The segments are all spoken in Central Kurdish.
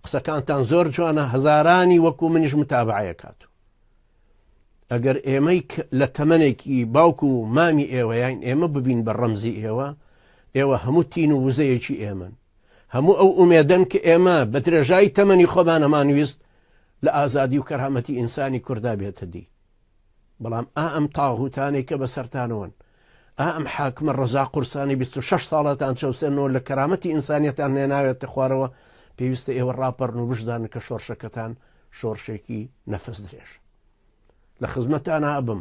قسەکانتان زۆر جوانە هەزارانی وەکو منیش متابعەکات و ئەگەر ئێمەی لە تەمەێکی باوکو و مامی ئێوەیان ئێمە ببین بە ڕەمزی ئێوە ئێوە هەموو تین و وزەیەکی ئێمن هەموو ئەو ئومێدەن کە ئێمە بە درێژایی تەمەنی خۆمانەمانویست لە ئازادی و کەرامەتی ئینسانی کووردا بێتە دی بەڵام ئا ئەم تاغوتانەی کە بەسەرتانەوەن، ئا ئەم حاکمە ڕەزا قورسانەی بیست و شەش ساڵەتان چەوسێننەوە لە کەرامەتی ئینسانیتان نێناوێتە خوارەوە، پێویستە ئێوە ڕاپەڕن و بشزانن کە شۆڕشەکەتان شۆڕشێکی نەفەس درێژە. لە خزمەتانا ئەبم،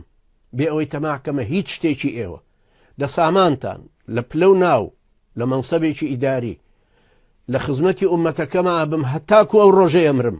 بێ ئەوەی تەماع کەمە هیچ شتێکی ئێوە، لە سامانتان، لە پلە و ناو، لە مەنسەبێکی ئیداری، لە خزمەتی ئوممەتەکەما ئەبم هەتاکو ئەو ڕۆژەی ئەمرم،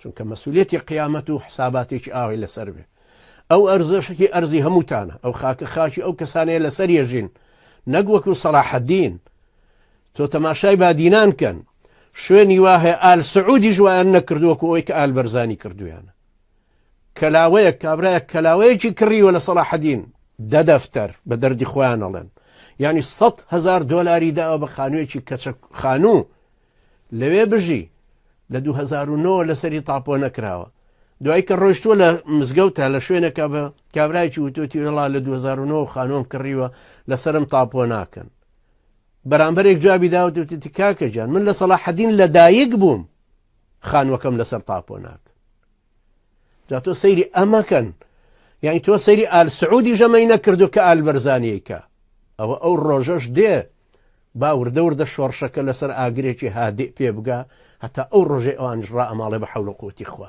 چونکە مەسولیەتی قیامەت و حساباتێکی ئاوای لەسەر بێ ئەو ئەرزەشکی ئەرزی هەمووتانە ئەو خاکە خاچی ئەو کەسانەیە لەسەر یەژین نەک وەکو سەلاحەدین تۆ تەماشای بادینان کەن شوێنی واهەیە ئال سعودی ژوایان نەکردووەکو ئەوی کە ئال بەرزانی کردویانە کەلاوەیە کابراە کەلاوەیەکی کڕیوە لە سەلاحەدین دە دەفتەر بە دەردی خۆیان ئەڵێن ینی 100 هزار دلاری داوە بە خانوویەکی کەچە خانوو لەوێ بژی لە 2009 لەسەری تاپۆ نەکراوە دوای کە ڕۆشتووە لە مزگەوتە لە شوێنەکە بە کابراایکی وتۆتی وێڵا لە 2009 خانۆم کڕیوە لەسرم تاپۆ ناکەن بەرامبەرێک جوابی داوتوتی کاکە جان من لە سەڵا حەدین لە دایک بووم خانوەکەم لەسەر تاپۆ ناکە جا تۆ سەیری ئەمەکەن یعنی تۆ سەیری ئال سعودی ژەمەی نەکردو کە ئال بەرزانیەکە ئەوە ئەو ڕۆژەش دێ با وردە وردە شۆڕشەکە لەسەر ئاگرێکی هادی پێ بگا هەتا ئەو ڕۆژێ ئەوانش ڕائەماڵێ بە حەول و قوتی خوا